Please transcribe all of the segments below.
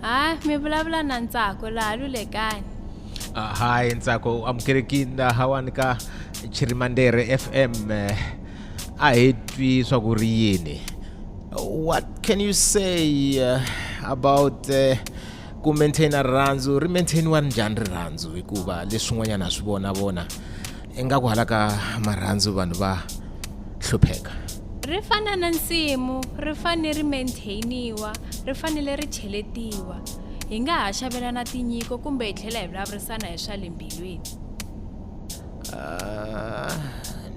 hayi mi vulavula na ntsako laha lulekani uh, hayi ntsako u amukelekini lahawani ka chirimandere fm eh, a hi twi swa ku ri yini what can you say uh, about uh, ku maintaina rirhandzu ri maintainiwa ri njhani rirhandzu hikuva leswin'wanyana swi vona vona ingaku hala ka marhandzu vanhu va hlupheka ri fana na nsimu ri fanele ri maintainiwa ri fanele ri cheletiwa hi nga ha xavelana tinyiko kumbe hi tlhela hi vulavurisana hi swa le mbilwini ah,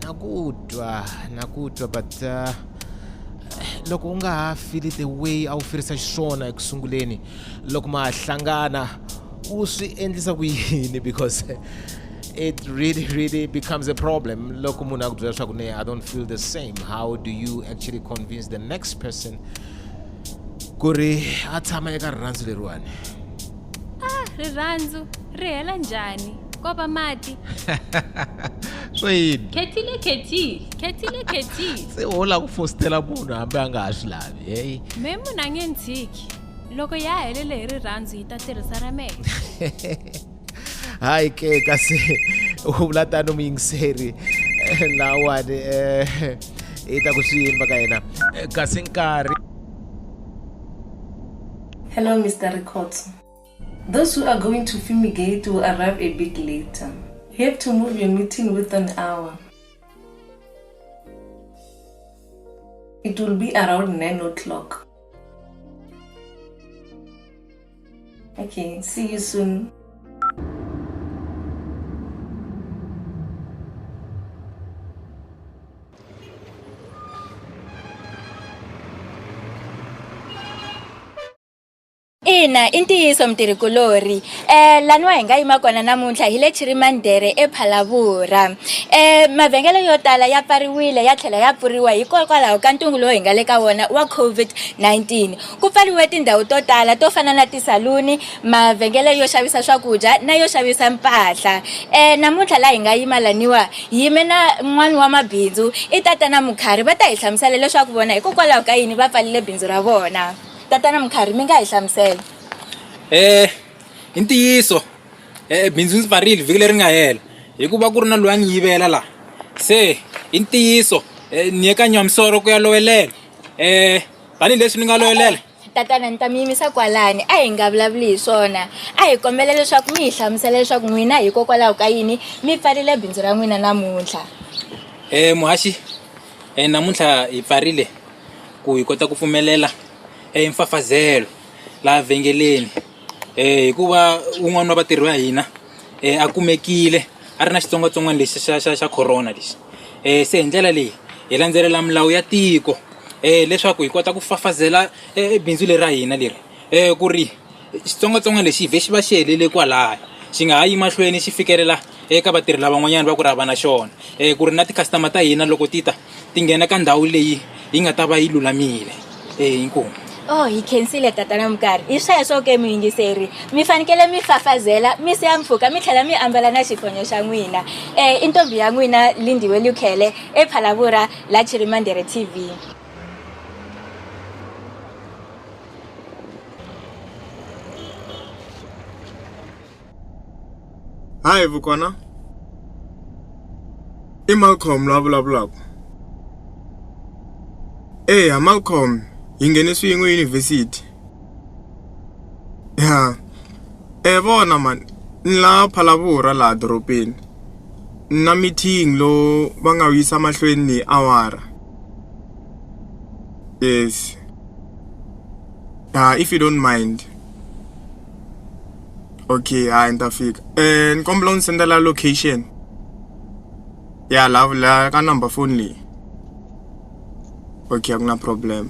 na ku twa na ku twa but uh, loko u nga ha fili the way a wu firisa xiswona eku sunguleni loko ma hlangana u swi endlisa ku yini because it really really becomes a problem loko munhu a ku byela leswaku ne i don't feel the same how do you actually convince the next person ku ri a tshama eka rirhandzu leriwani ah rirhandzu ri hela njhani ko va mati swo yini khethile khethi khethile khethi se wo la ku fositela munhu hambi a nga ha swi lavi heyi me munhu a nge ni tshiki loko ya helele hi rirhandzu hi ta tirhisa ra mehe hayi ke kasi u vula tani muyingiseri eh, lawani eh, i ta ku swi yini va ka yena eh, kasi nkarhi hello mr rikhotso those who are going to fumigate will arrive a bit later you have to move your meeting with an hour it will be around 9 o'clock Okay, see you soon. ina i ntiyiso mutirhikulori um eh, laniwa hi nga yima kona namuntlha hi le chirimandere ephalavura um eh, mavhengele yo tala ya pfariwile ya tlhela ya pfuriwa hikokwalaho ka ntungu lowu hi nga le ka wona wa covid-19 Ku pfariwe tindhawu to tala to fana na tisaluni, mavhengele yo xavisa swakudya na yo xavisa mpahla. E, namuntlha laha hi nga yima laniwa, hi yime na n'wana wa mabindzu, i Tatana Mukhari. Va ta hi hlamusela leswaku vona hikokwalaho ka yini va pfarile bindzu ra vona. Tatana Mukhari, mi nga hi hlamusela? E, i ntiyiso, e, bindzu ndzi pfarile vhiki leri nga hela hikuva ku ri na loyi a ni yivela laha. Se i ntiyiso, e, ni ye ka Nyamisoro ku ya lowelela. E, tanihileswi ni nga loyolela tatana ni ta mi yimisa kwalani a hi nga vulavuli hi swona a hi kombela leswaku mi hi hlamusela leswaku n'wina hikokwalaho ka yini mi pfarile bindzu ra n'wina namuntlha um muhaxi um namuntlha hi pfarile ku hi kota ku pfumelela um mfafazelo laha vhengeleni um hikuva un'wana wa vatirhi va hina a kumekile a ri na xitsongwatsongwana lexi xa xa xa corona lexi se hi ndlela leyi hi landzelela milawu ya tiko leswaku hi kota ku fafazela bindzu leri ra hina leri ku ri xitsongwatsongwana lexi vhe xi va xi helele kwalaya xi nga ha yi mahlweni xi fikelela eka vatirhi lavan'wanyani va ku ri hava na xona ku ri na ti-customer ta hina loko ti ta ti nghena ka ndhawu leyi yi nga ta va yi lulamile eyi inkomu Oh, hi khensile tatana Mukari. Hi sweswo ke muyingiseri, mi fanekele mi fafazela, mi siya mpfhuka, mi tlhela mi ambala na xifonyo xa n'wina. Eh, i ntombi ya n'wina Lindiwe Lukhele ePhalavura la Chirimandere TV. hayi vukona i Malcolm la vulavulaka eya Malcolm hi nghene swin'we yunivhesiti ya e vona mhani ni la Phalaborwa laha doropeni na meeting lowu va nga wu yisa mahlweni ni awara if you don't mind. Okay hayi ni ta fika ni kombela u ni sendela location ya la la ka number foni leyi okay a ku na problem.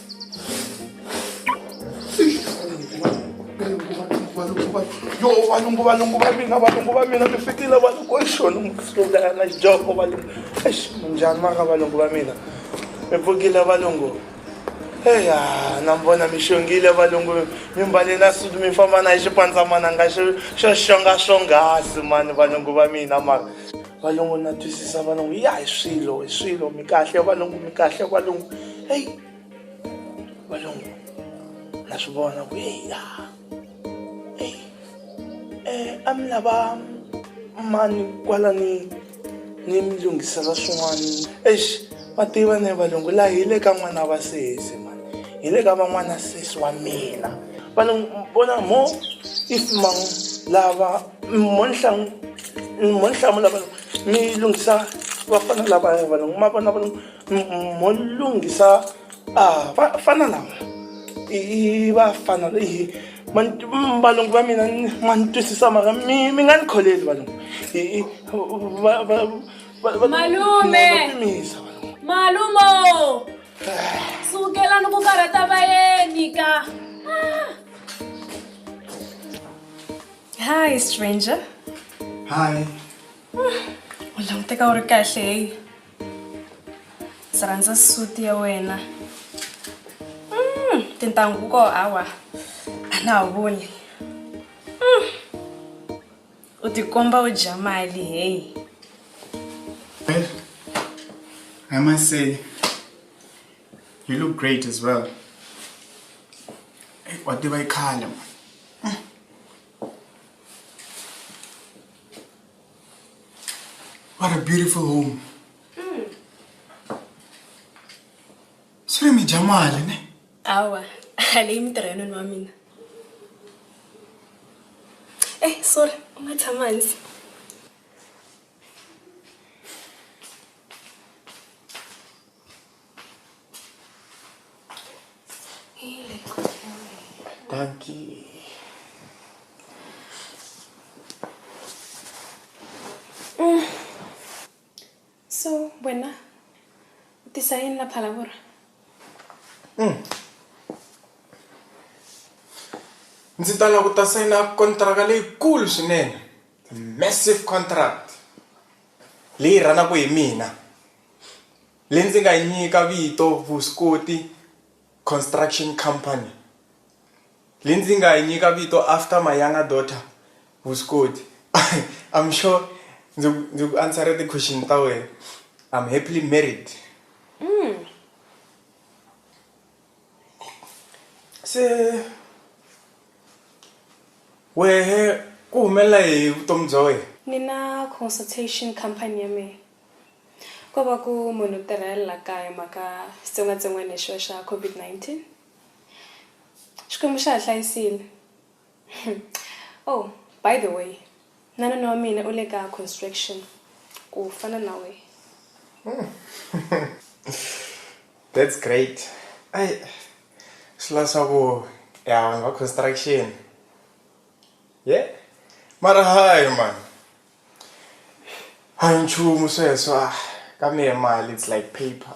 yo valungu valungu va mina valungu va mina mi fikile valungu exona musulana joko valungu ex munjhani maka valungu va mina mi pfukile valungu eya na mi vona mi xongile valungu mi mbale na suti mi famba na hi xipandzamananga xo xo xonga swonghasi mani valungu va mina mara valungu na twisisa valungu ya hi swilo hi swilo mi kahle valungu mi kahle valungu heyi valungu na swi vona ku heya heyi um a mi lava mani kwala ni ni mi lunghisela swin'wana exi va tiva ne valungu laha hi le ka n'wana wa sesi mani hi le ka van'wana sesi wa mina valungu vona mo if mang lava monhlamula vanu mi lunghisa vafana lava vanu ma vona vanu mo lunghisa vafana lava i vafana leyi valungu va mina ma ni twisisa mara mi mi nga ni kholeli valungu malume malumo sukelani ku karhata vayeni ka Hi, stranger. Hi. U languteka u ri kahle heyi. Ndzi rhandza suit ya wena. Mm, tintangu ko hawa. A na ha voni. Mm. U tikomba u dya mali heyi. Well, I must say, you look great as well. Hey, What did I call him? What a beautiful home. Mm. Swi ri mi dya mali ne? Awa, a leyi mi tirha noni wa mina. Eh, sorry, u nga tshama hansi. Dankie. Mm. So, wena u tisa yini la phalavora? Mm. Ndzi ta lava ku ta sayina kontraka leyikulu swinene. Massive contract. Leyi rhanaka hi mina. Leyi ndzi nga yi nyika vito Vuswikoti Construction Company. Leyi ndzi nga yi nyika vito after my younger daughter Vuswikoti. I'm sure ndzi ku ndzi ku answer-e ti-question ta wena. I'm happily married. Se wehe ku humelela yini hi vutomi bya wena? Ni na consultation company ya mehe. Ko va ku munhu u tirhela la kaya hi mhaka xitsongwatsongwana lexiya xa COVID-19. Xikwembu xa hi hlayisile. Oh by the way na nuna wa mina u le ka construction ku fana na wehe. That's great. Ai swi la swa ku ya vanhu va construction. Yeh mara hayi mani. a hi nchumu sweswo a ka mehe mali it's like paper.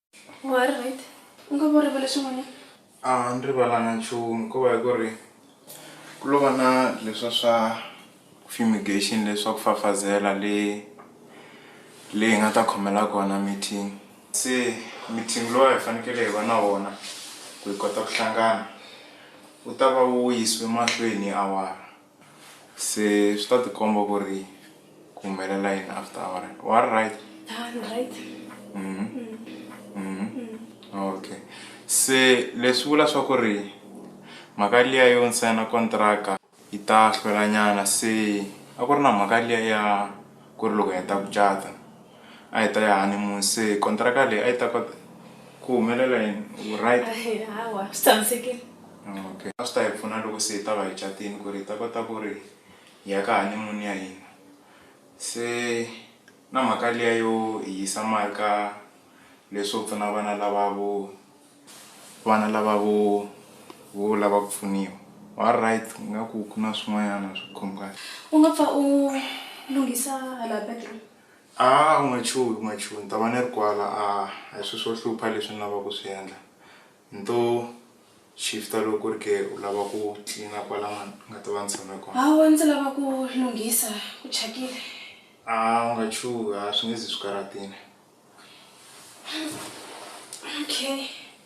wa ri right u nga vo rivele swin'wana a ni rivalanga nchumu ko va hi ku ri ku lo va na leswa swa fumigation leswa ku fafazela le le hi nga ta khomela kona meeting se meeting lowa hi fanekele hi va na wona ku hi kota ku hlangana u ta va wu yisiwe mahlweni hi awara Se swi ta tikomba ku ri ku humelela yini after awara wa ri right okay se leswi vula swa ku ri mhaka liya yo ni sayina kontraka yi ta hlwelanyana se a ku ri na mhaka liya ya ku ri loko hi heta ku cata. a hi ta ya honeymoon se kontraka leyi a yi ta kota ku humelela yini right hawa swi tshamisekile okay a swi ta hi pfuna loko se hi ta va hi catini ku ri hi ta kota ku ri hi ya ka honeymoon ya hina se na mhaka liya yo hi yisa mali ka leswo pfuna vana lava vo vana lava vo vo lava ku pfuniwa wa right ingaku ku na swin'wanyana swi khumukaka u nga pfa u lunghisa hala bedroom A u nga chuhi u nga chuhi ni ta va ni ri kwala a hi swilo swo hlupha leswi ni lavaka ku swi endla ni to shift-a loko ku ri ke u lava ku tlilina kwala ni nga ta va ni tshame kona. Hawa ndzi lava ku lunghisa ku thyakile. A u nga chuhi a swi nge zi swi karhatile. Okay.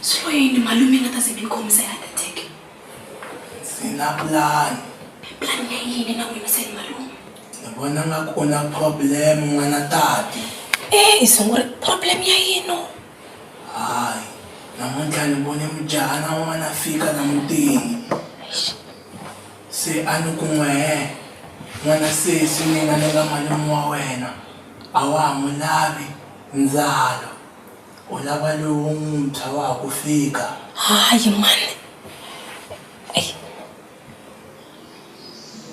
swi lo yini malume nga ta ze mi ni khomisa ya ateke ndzi na pulani pulani ya yini na n'wina seni malume ni vona nga ku na problem n'wana tati e i sunguri problem ya yino hayi namuntlha ni vone mujahana wun'wana fika na mutini Se a ni ku n'we, He, n'wana sesi mina ni nga malume wa wena, a wa ha n'wi lavi ndzalo, u lava lowuntshwa wa ha ku fika. Hayi, mhani. Ei!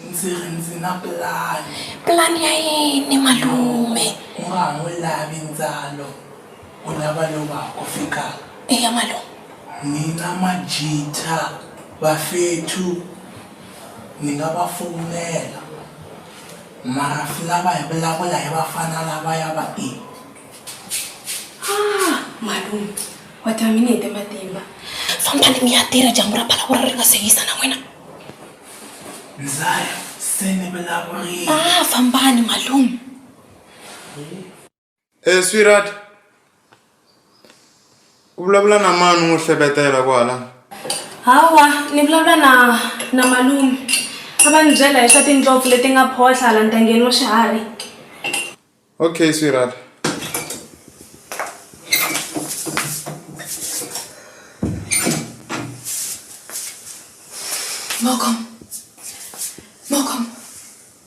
Ndzi ri ndzi na pulani. Pulani ya yini, malume? U nga ha n'wi lavi ndzalo. U lava lova ku fika? Eya malume. Ni na majita, vafethu ni nga va fowunela mara swi lava hi vulavula hi vafana lavaya va i. Haa malume wa tiva mi ni hete matimba. Fambani mi ya tirha dyambu ra pala ku ri ri nga se hisa na n'wina. Ndza ya se ni vulavurile. Haa fambani malume. Eh sweetheart u vulavula na mani n'wi hleketela kwala hawa ni vulavula na na malume a va ni byela hi swa tindlopfu leti nga photlha hala ntangeni wa swiharhi okay sweetheart Malcolm. Malcolm.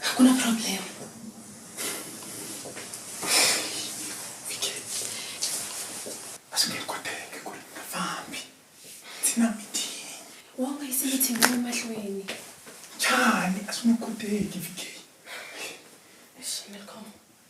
hakuna problem basi ngekwa teke ku ri nga fambi ndzi na mitini wa nga yisi mitini wa emahlweni njhani a swi nge koteki vikeli Welcome.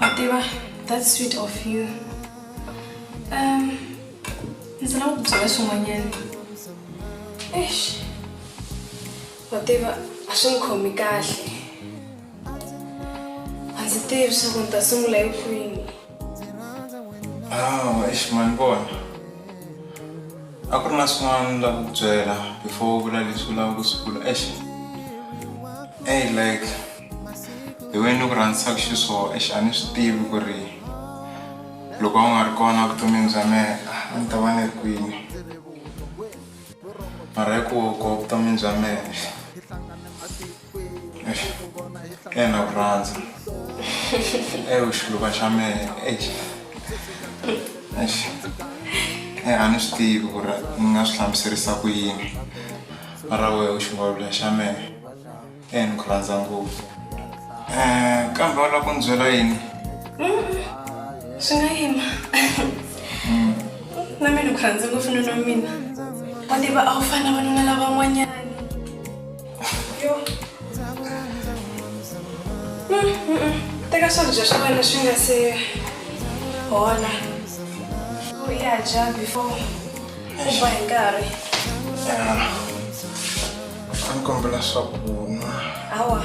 Whatever, that's sweet of you. Um, ndzi lava ku byela swin'wanyana. Eish. Whatever, a swi ni khomi kahle. A ndzi tivi swa ku ni ta sungula hi kwihi. Ah, eish mani vona. A ku ri na swin'wana ni lava ku byela before u vula leswi u lava ku swi vula. Eish. Ey like the way ni ku rhandzisaka xiswona eish a ni swi tivi ku ri loko a wu nga ri kona evuton'wini bya mehe a ni ta va ni ri kwini. Mara hikuva u kona evuton'wini bya mehe. ena ku rhandza ewu xiluva xa mehe exi exi e a ni swi tivi ku ri ni nga swi hlamuserisa ku yini mara wehe u xingwavula xa mehe e ni ku rhandza ngopfu um kambe wa lava ku ni byela yini swi nga yima na mina ku rhandza ngopfu nuna mina wa tiva a wu fana vanuna lavan'wanyana teka swakudya swa wena swi nga se hola u ya dya before u ba hi nkarhi a ni kombela swakunwa hawa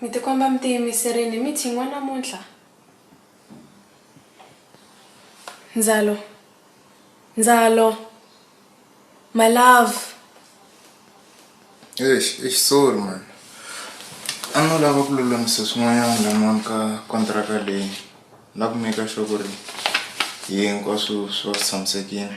Mi ti komba mi tiyimiserile hi meeting wa namuntlha Ndzalo Ndzalo my love Eish eish sorry man a no lava ku lulamisa swin'wanyana la mhani ka kontraka leyi na ku maker sure ku ri hinkwaswo swi va swi tshamisekile.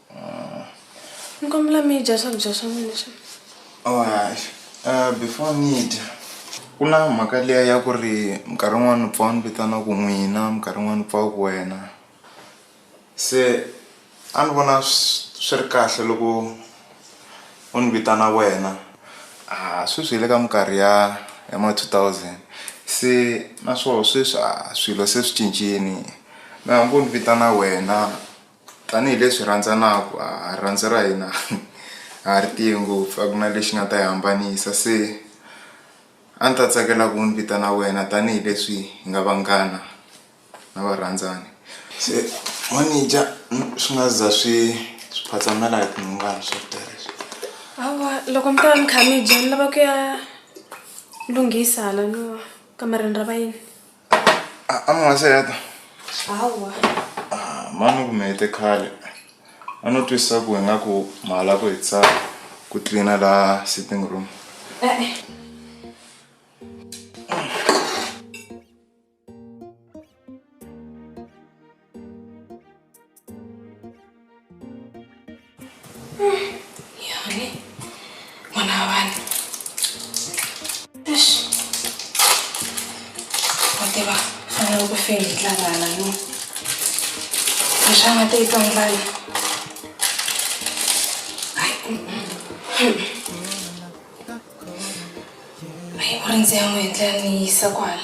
ni kombela mi dya swakudya swa n'wina swa alright uh, before ni dya ku na mhaka liya ya ku ri minkarhi yin'wana pfa ni vitana ku n'wina minkarhi yin'wana pfa ku wena se a ni vona swi ri kahle loko u ni vitana wena a sweswi hi le ka minkarhi ya ya ma 2000 se naswona sweswi a swilo se swi cincile na hambi u ni vitana wena Tanihi leswi hi rhandzanaka a rirhandzu ra hina a ri tiye ngopfu a ku na lexi nga ta yi hambanisa se a ndzi ta tsakela ku n'wi vitana wena tanihileswi hi nga vanghana na varandzani se manager swi nga za swi swi phatsamela hi tinhongani swo ta leswi hawa loko mi ta va mi kha mi dya ni lava ku ya lunghisa hala no kamareni ra vayeni. amaseta hawa ah, mani ku mete khale a no twisisa ku hi nga ku mahala ku hitisa ku tlina la sitting room e -e. Yori, mwana wa vanhu. Eish. Wa tiva, fanele ku feli hi tlangana no. Xana te tlangana. Ai. Ai, u rindze ya n'wi endla ni yisa kwala.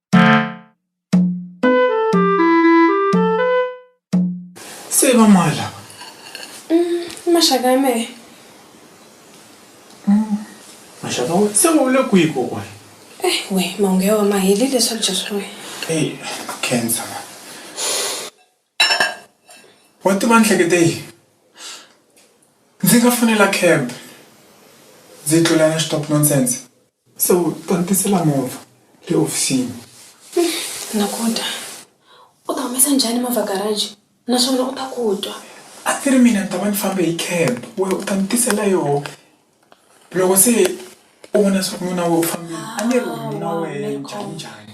se va mani lava mm, maxaka ya mehe mm, maxaka we se wa vule kwihi kokwana eh we mahungu ya wa maheli leswakudya swa wena e cancer Wa tiva ni hlekete yini ndzi nga fonela cab ndzi tlula na stop nonsense so ta ni tisela movha le hofisini. Nakuta u ta humesa njhani movha garage naswona u ta ku twa. A ti ri mina ni ta va ni fambe hi cab wehe u ta ni tisela yoho loko se u vona swa ku nuna wehe u fambile a ni ri wena nuna wehe njhaninjhani.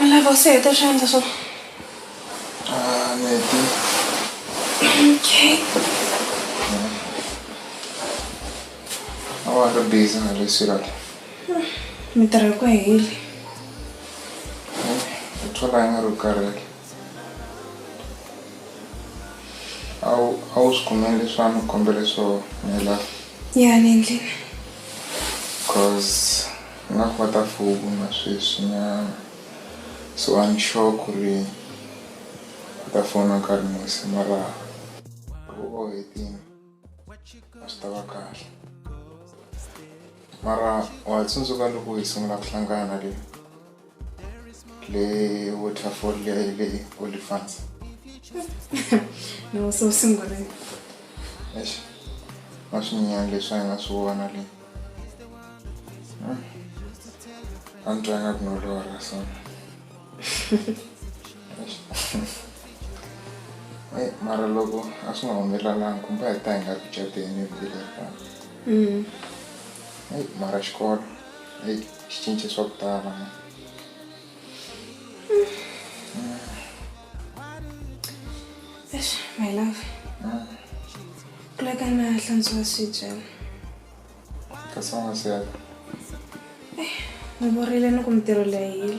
I lava u se heta swi endla swo ah, neti okay a wa ri busy na le sirati mintirho yi ku heli u thola yi nga ri karhele a wu a wu swi kumeli leswa ni kombele swo nghelaka ya le ndlini cause Ni nga kota ku vona sweswi nyana so a ni sure ku ri u ta fona nkarhi muni se mara loko u hetini a swi tava kahle mara wa ha tsundzuka loko hi sungula ku hlangana le. le waterfall le le olifants no so singole eish maswinyani leswi a nga swi vona le hmm. a ni twanga ku no lora so e mara loko a swi nga humelelanga kumbe a hi ta hi nga ku cateni hi vile fana hmm. mara xikolo Eyi, swi cince swa ku tala. Eish, my love ku la ka na hlantswa swibye Kasi u nga si ya. ni borile ni ku mintirho leyi hile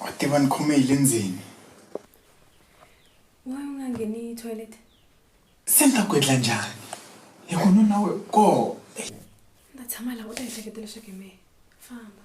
wa tiva ni khome hi le ndzeni wa u nga ngheni toilet se ni ta ku endla njhani hi ku nuna we koo ni ta tshama laha u ta ehleketa leswaku hi mehe famba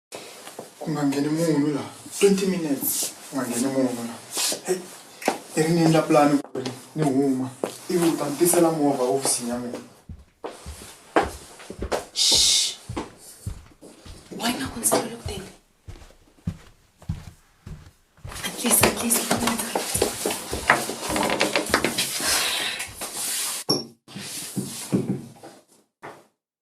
ku nga ngheni munhu la 20 minutes ku nga ngheni munhu la hey i ri ni endla pulani ku ri ni huma ivi u ta ni tisela movha hofisini ya mina why nga ku ndzi tele ku tele atlisa atlisa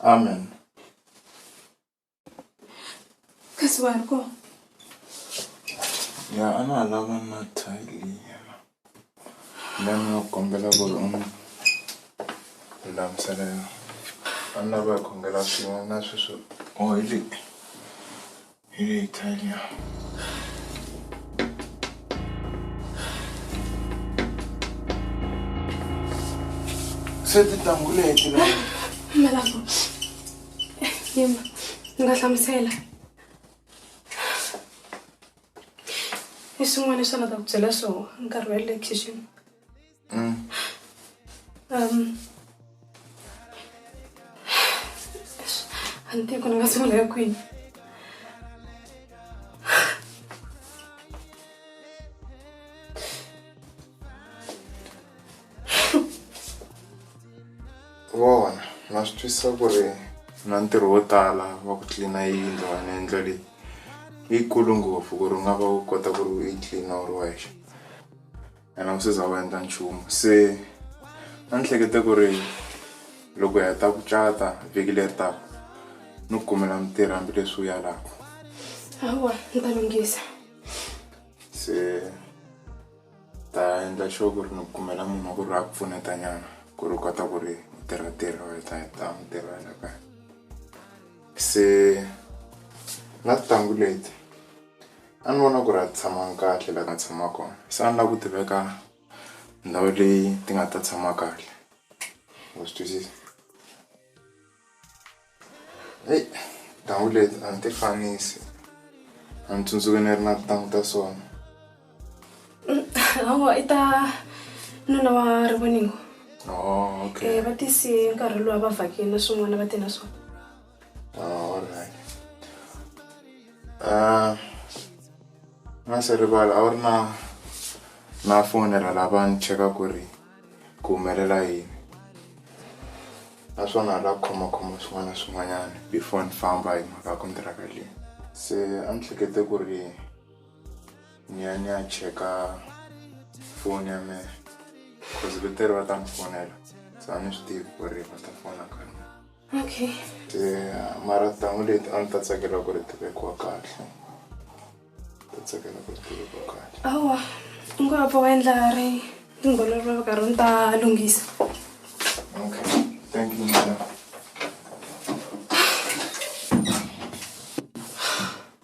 amen kasi vanhu ko ya a na ha lava na tile yena na ni va kombela ku ri u ni lulamisela yona a ni lava hi khongela swin'we na sweswo o hi leyi Hey, Tanya. se ti tanguleti la malavo yima ni nga hlamusela i swin'wana leswi a nga ta ku byela swona nkarhi wa le kitchen Mm. Um, Ante kuna kasema na kwini. Vona, na swi twisisa ku ri na ntirho wo tala wa ku tlilina yindlu wena yindlo leyi yikulu ngopfu ku ri u nga va u kota ku ri u yi tlilina u ri wexe ene a wu se za u endla nchumu se a ni hlekete ku ri loko hi heta ku cata vhiki leri taka ni ku kumela mutirhi hambileswi wu yalaka hawa ni ta lunghisa se ta endla sure ku ri ni ku kumela munhu wa ku ri a ku pfuneta nyana ku ri u kota ku ri u tirha tirha u heta heta mutirhi wa yena kaya se na tintangu leti A ni vona ku ri a ti tshamanga kahle laha ti nga tshama kona se a ni la ku ti veka ndhawu leyi ti nga ta tshama kahle wa swi twisisa heyi tintangu leti a ni ti fanisi a ni tsundzuki ni ri na tintangu ta sona hawa i ta nuna wa rivoningo va tise nkarhi luwa va vhakini na swin'wana va te na swona. Oh, alright. Ah, na se rivala a wu ri na na fonela lava ni cheka ku ri ku humelela yini naswona la khomakhoma swin'wana na swin'wanyana before ni famba hi mhaka ya kontiraka leyi se a ni hlekete ku ri ni ya ni ya cheka foni ya mehe cause veteri va ta ni fonela se a ni swi tivi ku ri va ta fona ka mina. Okay. Yeah, mara tintangu leti a ni ta tsakela ku ri tivekiwa kahle ta tsakela ku ri tivekiwa kahle awa u ngo va endla ri tingololo va karhi ni ta lunghisa okay thank you madam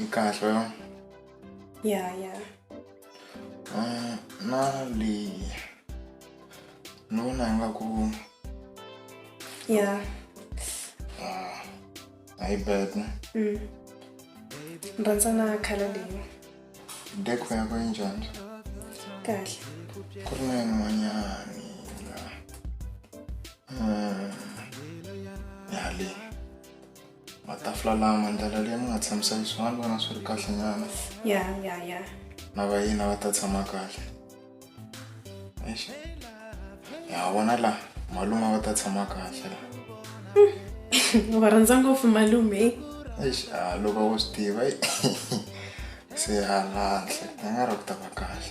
Nkarhi. Ya ya. Um, na leyi ni vona ingaku ya ah, hayi bad ne mm. ni rhandza na khala leyi deko yako yi njhani kahle ku ri na yin'wanyani la um, ya leyi matafula lama ndlela leyi mi nga tshamisa yi swona ni vona swi ri kahle nyana ya ya ya na vayina va ta tshama kahle eish ya vona la malume va ta tshama kahle la u va rhandza ngopfu malume eish a loko wo swi tiva se halanhle ni nga ri ku ta va kahle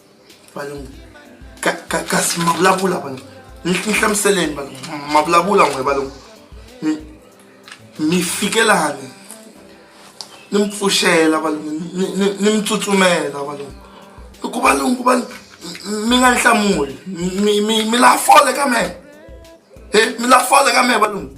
valungu ka ka kasi ma vulavula valungu ni hlamuseleni valungu ma vulavula n'we valungu mi mi fike lani ni mi pfuxela valungu ni mi tsutsumela valungu i ku valungu va mi nga ni hlamuli mi mi mi la fole ka mehe he mi la fole ka mehe valungu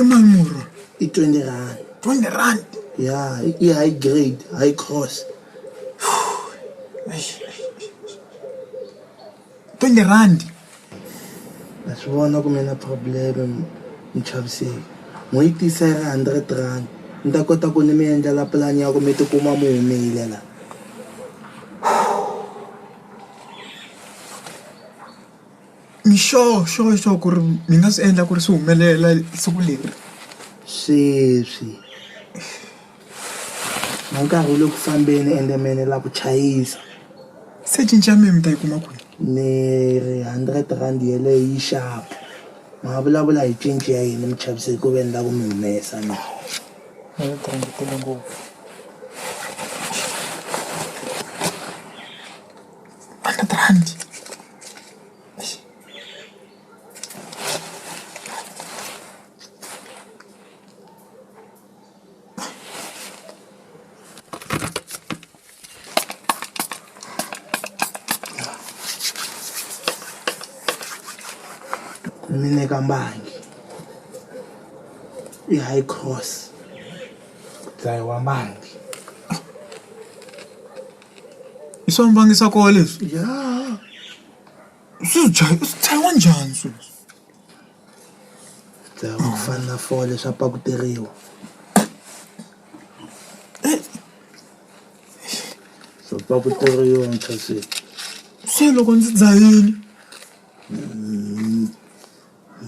imanquro i-twenty rand twenty rand ya i-high grade high cross twenty rand a swi vona ku mi na problem mi chaviseki n'wi yi tisa yi ri hundred rand ni ta kota ku ni mi endlela pulani ya ku mi tikuma mi humile la Ni sure sure sure ku ri mi nga swi endla ku ri swi humelela siku leri sweswi na nkarhi wu le ku fambeni ende me ni la ku chayisa se cinci ya mina mi ta yi kuma kwihi ni ri hundred rand yeleyo yi xava ma vulavula hi cinci ya yini mi chavise ku ve ni la ku mi humesa na hundred rand yi tele ngopfu hundred rand. mine kambangi i-high cross dzayiwa mbangi I swa mbangisakoho leswi swi dlayiwa swi dlayiwa njhani swilo leswi. Ku dlayiwa ku fana na fole swa pakuteriwa swa pakuteriwa muchayiseni. Se loko ndzi dzhayile.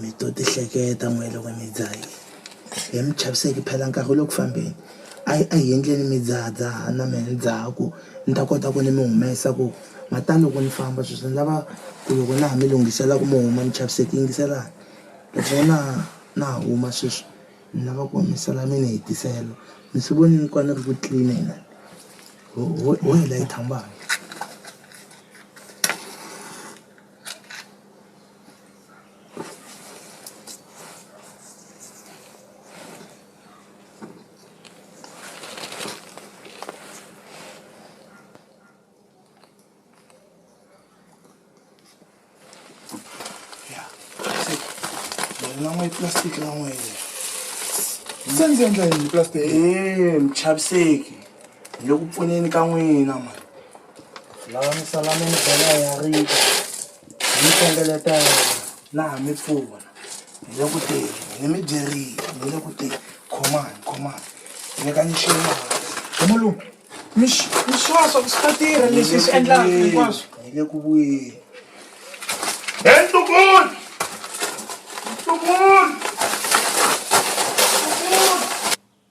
Mi to tihleketa n'we loko mi dzaha yini he mi chaviseki phela nkarhi wu le ku fambeni a a hi endleni mi dzahadzaha na mehe ni dzaha ku ni ta kota ku ni mi humesa ku ma ta loko ni famba sweswi ni lava ku loko na ha mi lunghisela ku mi huma mi chaviseki yingiselani loko na na ha huma sweswi ni lava ku humesela mi ni hetisela mi swi vonile ku a ni ri ku clean-eni la ho ho ho hi layicha mbala. lan'we yi plastic lan'we se ndzi endla yini plastic ee michaviseki hi le ku pfuneni ka n'wina mani lava misala mi ni bela ya rita Hi mi hlengeletela na ha mi pfuna hi le ku teni ni mi byerile ni le ku teni khomani khomani nyikani xin'wana malume mi mi swa swa ku swi ta tirha leswi hi swi endlaka hinkwaswo hi le ku vuyeni he ntukulu ntukulu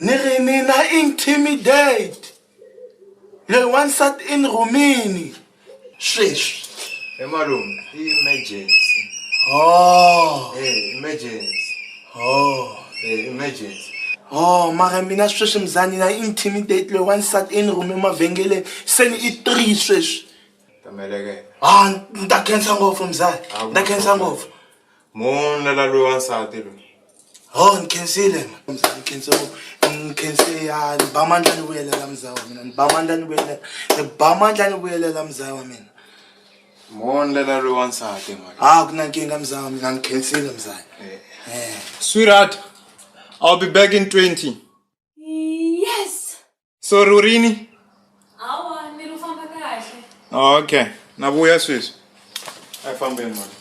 ni ri ni na intimidate loyi wansati i ni rhumini sweswi he malume i emergency oh e emergency oh e emergency oh mara mina sweswi mzani na intimidate loyi wansati i ni rhume mavhengeleni se ni i three sweswi tameleke a ni ta khensa ngopfu mzani ni ta khensa ngopfu Munlala loyi wansati loyi. Ho ni khensile ni khense ni khense ya ni ba mandla ni vuyelela muzaya wa mina ni ba mandla ni vuyelela ni ba mandla ni vuyelela muzaya wa mina. Munlala loyi wansati mhani. A ku na nkingha muzaya wa mina ni khensile muzaya. Sweetheart, I'll be back in 20. yes so rurini awa ni ri famba kahle okay na vuya sweswi a fambeni mani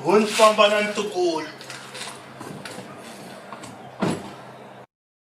Hun famba na ntukulu.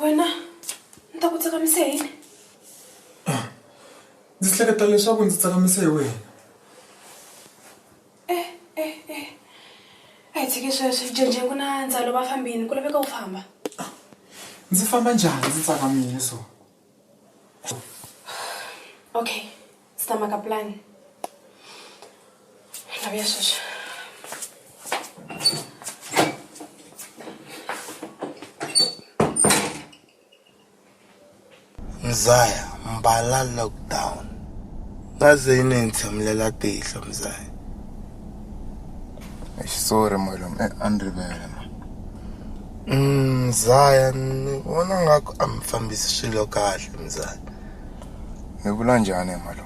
wena ni ta ku tsakamise hi yini ndzi hleketa leswaku ndzi tsakamise hi wena e e e a hi tshiki sweswi jenje ku na ndzalo va fambini ku laveka u famba ndzi famba njhani ndzi tsakamile so okay Está maka plan. La voy a hacer. Mzaya, mbala lockdown. Ngaze yini ngithamlela tihlo Mzaya. Eish sorry malum, eh andrivele ma. Mm, Mzaya, ni vona ngaku a mi fambisi swilo kahle Mzaya. mi vula njhani hi mhaka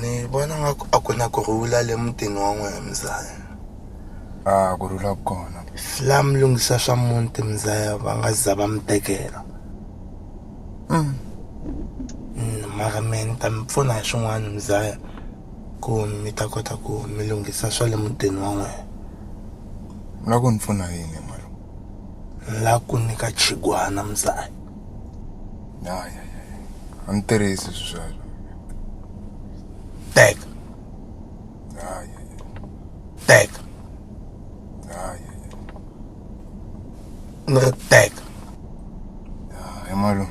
ni vona nga ku a ku na ku rhula le mutini wa n'wina mzaya a ku rhula ku kona la mi lunghisa swa muti mzaya va nga za va mi tekela mm. Mm, mara me ni ta mi pfuna hi swin'wana mzaya ku mi ta kota ku mi lunghisa swa le mutini wa n'wina na ku ni pfuna yini la ku nyika chigwana mzaya hayi a ni tirhisi sweswo teka hayi teka hayi ni ri teka hayi malume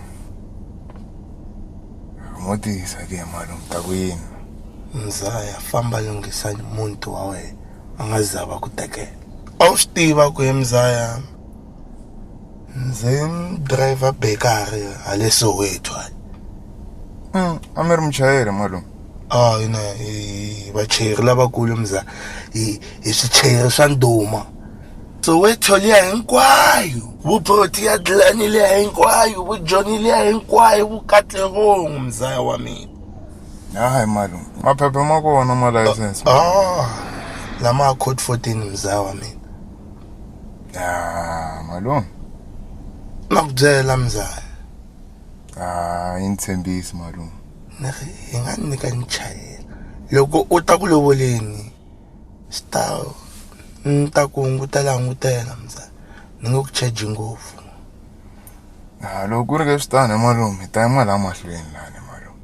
mo tiyisa ke malume ta ku yini mzaya famba lunghisa muti wa wena a nga za va ku tekela A wu swi tiva ku he mzaya ndzi driver bakery hale Soweto hale a mi ri muchayeri malume a hina hi vachayeri lavakulu mza hi hi swichayeri swa ndhuma Soweto liya hinkwayo vu Protea Glen liya hinkwayo vu Joni liya hinkwayo vu Katlehong mzaya wa mina. hayi mali maphepha ma kona ma license ah lama code 14 mzawa mina ah malume na ku byela mzaya ah yi ni tshembisi malume ni ri hi nga ni nyika ni chayela loko u ta ku lovoleni Swi ta ni ta ku hungutela hungutela mzala ni nge ku charge ngopfu. A loko ku ri leswi tani malume hi ta yima la mahlweni lani malume.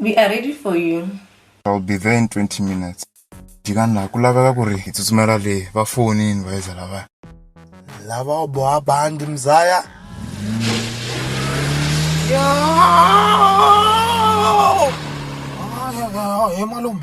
we are ready for you i'll be there in 20 minutes jikani laha ku laveka ku ri hi tsutsumela le va fonini vayeza lavaya lava u boha bandi mzaya he malume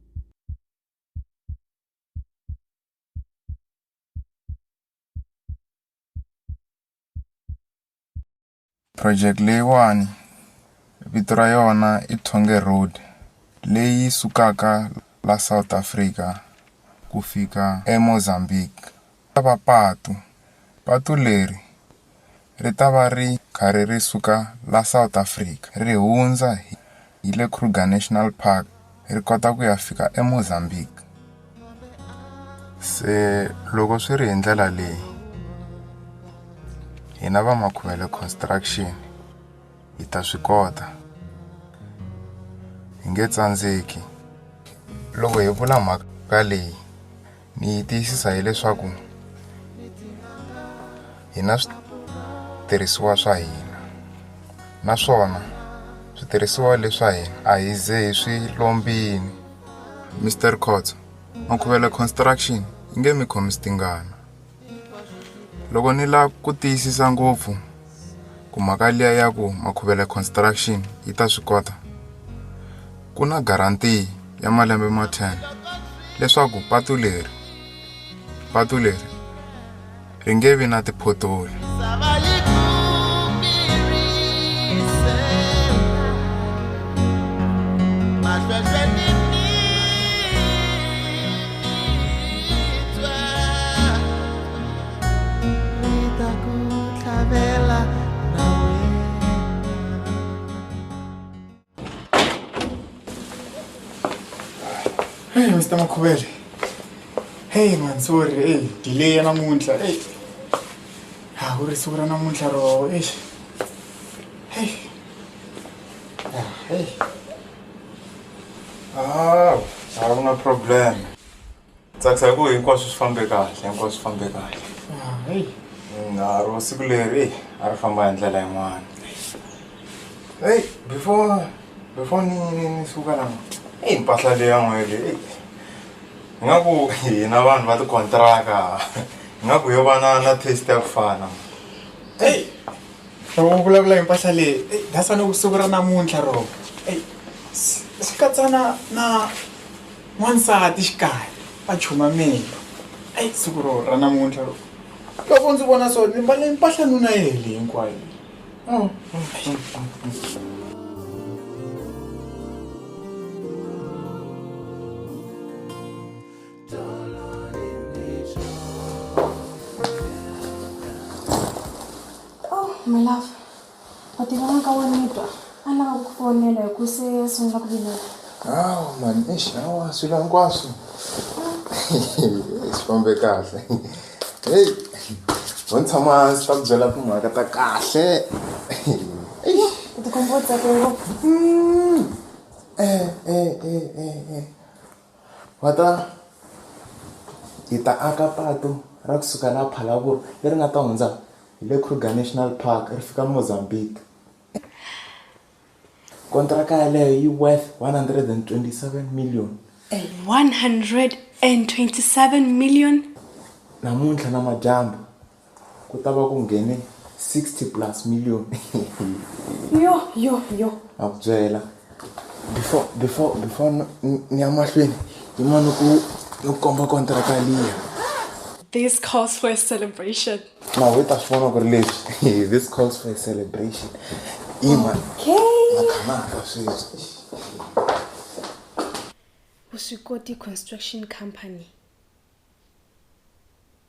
Project leyiwani vito ra yona i Tshwonge Road leyi sukaka la South Africa ku fika eMozambique. Ta va patu. Patu leri ri ta va ri karhi ri suka la South Africa ri hundza hi hi le Kruger National Park ri kota ku ya fika eMozambique. Se loko swi ri hi ndlela leyi hina va Makhuvele Construction hi ta swi kota hi nge tsandzeki loko hi vula mhaka leyi. ni yi tiyisisa hileswaku hi na switirhisiwa swa hina naswona switirhisiwa leswa hina a hi ze hi swi lombini Mister Khotso Makhuvele Construction yi nge mi khomisi tingana Loko ni la ku tiyisisa ngopfu ku mhaka liya ya ku Makhuvele Construction yi ta swi kota ku na guarantee ya malembe ma ten leswaku patu leri patu leri ri nge vi na ti-pothole. Hey, Mr. Makhubele. Hey man, sorry. Hey, delay namuntlha. Hey. Ha ku ri siku ra namuntlha ro. Eish. Hey. Ah, hey. Ah, a ku na problem. Tsakisa hi ku hinkwaswo swi fambe kahle, hinkwaswo swi fambe kahle. Ah, hey. Na ro siku leri a ri famba hi ndlela yin'wana. Hey, before before ni ni ni suka la. Hey, mpahla leyi ya n'we leyi. Hey. Ingaku hina vanhu va tikontiraka. Ingaku yo va na na taste ya ku fana. Hey. loko u vulavula hi mpahla leyi eyi that's why ni ku siku ra namuntlha ro eyi swi swi katsa na na n'wansati xikarhi va chumamile eyi siku ro ra namuntlha ro loko ndzi vona so ni mbale mpahla nuna yi hele hinkwayo oh. Oh, my love. U tiva na ka wa nitwa. A lava ku ku fonela hi ku se a sungula ku vilela. Hawu mani, eish hawa swilo hinkwaswo. Swi fambe kahle. Hey, ho ni tshama hansi ta ku byela timhaka ta kahle. U tikomba u tsake ngopfu. Eh, eh, eh, eh, eh. Va ta hi ta aka patu ra kusuka laha Phalaborwa leri nga ta hundza hi le Kruger National Park ri fika Mozambique kontraka yaleyo yi worth one hundred and twenty seven million one hundred and twenty seven million namuntlha namadyambu. Ku ta va ku nghene 60 plus million. Yo yo yo. Na ku byela before before before ni ya mahlweni yima ni ku ni ku komba kontraka liya. This calls for a celebration. Na we ta swi vona ku ri leswi this calls for a celebration. Yima. Okay. Na khamaka sweswi. Vuswikoti Construction Company.